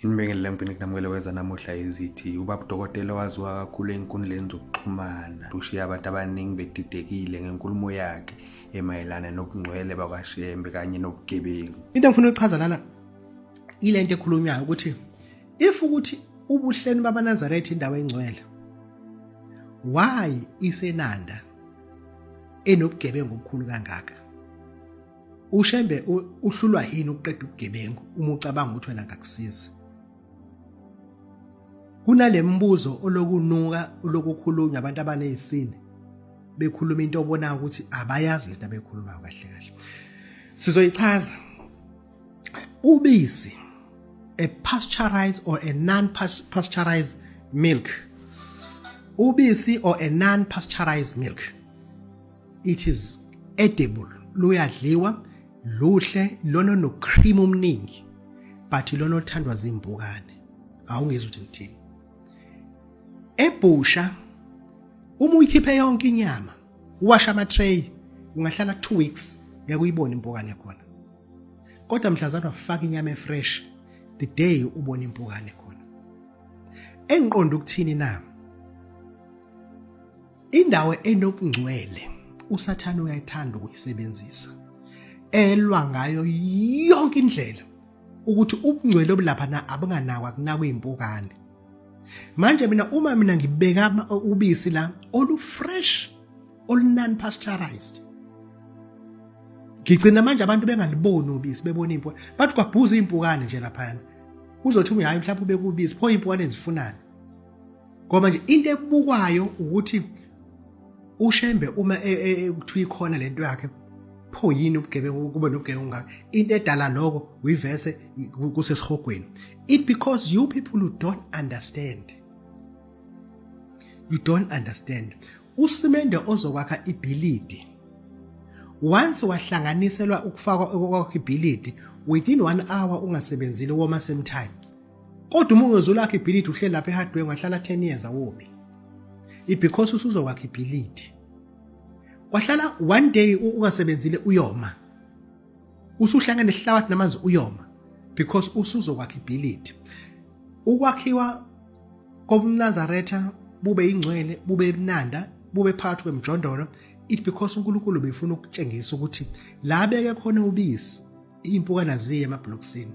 Inibingelele empini kunamukele weza namuhla izithi ubaba udokotela waziwa kakhulu ey'nkundleni zokuxhumana ushiye abantu abaningi bedidekile ngenkulumo yakhe emayelana nobungcwele bakashembe kanye nobugebengu into engifuna ukuchaza lana ile nto ekhulunywayo ukuthi if ukuthi ubuhleni babanazaretha indawo engcwele why isenanda enobugebengu obukhulu kangaka ushembe uhlulwa yini ukuqeda ubugebengu uma ucabanga ukuthi wena ngakusiza kunalemibuzo olokunuka olokukhulunywa abantu abanezisini bekhuluma into obona ukuthi abayazi lento abekhuluma kahle kahle sizoyichaza ubisi a pasteurized or a non pasteurized milk ubisi or a non pasteurized milk it is edible luyadliwa luhle lona no cream omningi but lona othandwa zimbukane awungezi ukuthi ngithini ebhusha uma uyikhiphe yonke inyama uwasha ama tray ungahlala 2 weeks ngeke uyibone impukane khona kodwa mhlazana ufaka inyama efresh the day ubona impukane khona engiqonda ukuthini na Indawo enobungcwele uSathane uyayithanda ukuyisebenzisa elwa ngayo yonke indlela ukuthi ubungcwele obulapha na abunganakwa kunakwe impukane manje mina uma mina ngibeka ubisi la olufresh olunan pasteurized ngigcina manje abantu bengaliboni ubisi bebona impo bathi kwabhuza impukane nje lapha uzothi ungayi mhlawumbe ubekubisi pho impukane ezifunani ngoba nje into ebukwayo ukuthi ushembe uma e, e, e, kuthiwa ikhona lento yakhe pho yini ubugebengu kube nobugebengu ngaka into edala lokho uyivese kusesihogweni it because you people who don't understand you don't understand usimende ozokwakha ibhilidi once wahlanganiselwa ukufakwa kwakho ibhilidi within one hour ungasebenzile woma same time Kodwa uma ungezolakha ibhilidi uhleli lapha eHardware ungahlala 10 years awophi. Ibecause usuzokwakha ibhilidi. Wahlala one day ungasebenzile uyoma. Usuhlangene nesihlabathi namanzi uyoma because usuzokwakha ibhilidi. Ukwakhiwa kobunazaretha bube ingcwele bube ebunanda bube phakathi kwemjondolo it because uNkulunkulu befuna ukutshengisa ukuthi la beke khona ubisi iy'mpukana ziye emabhulokisini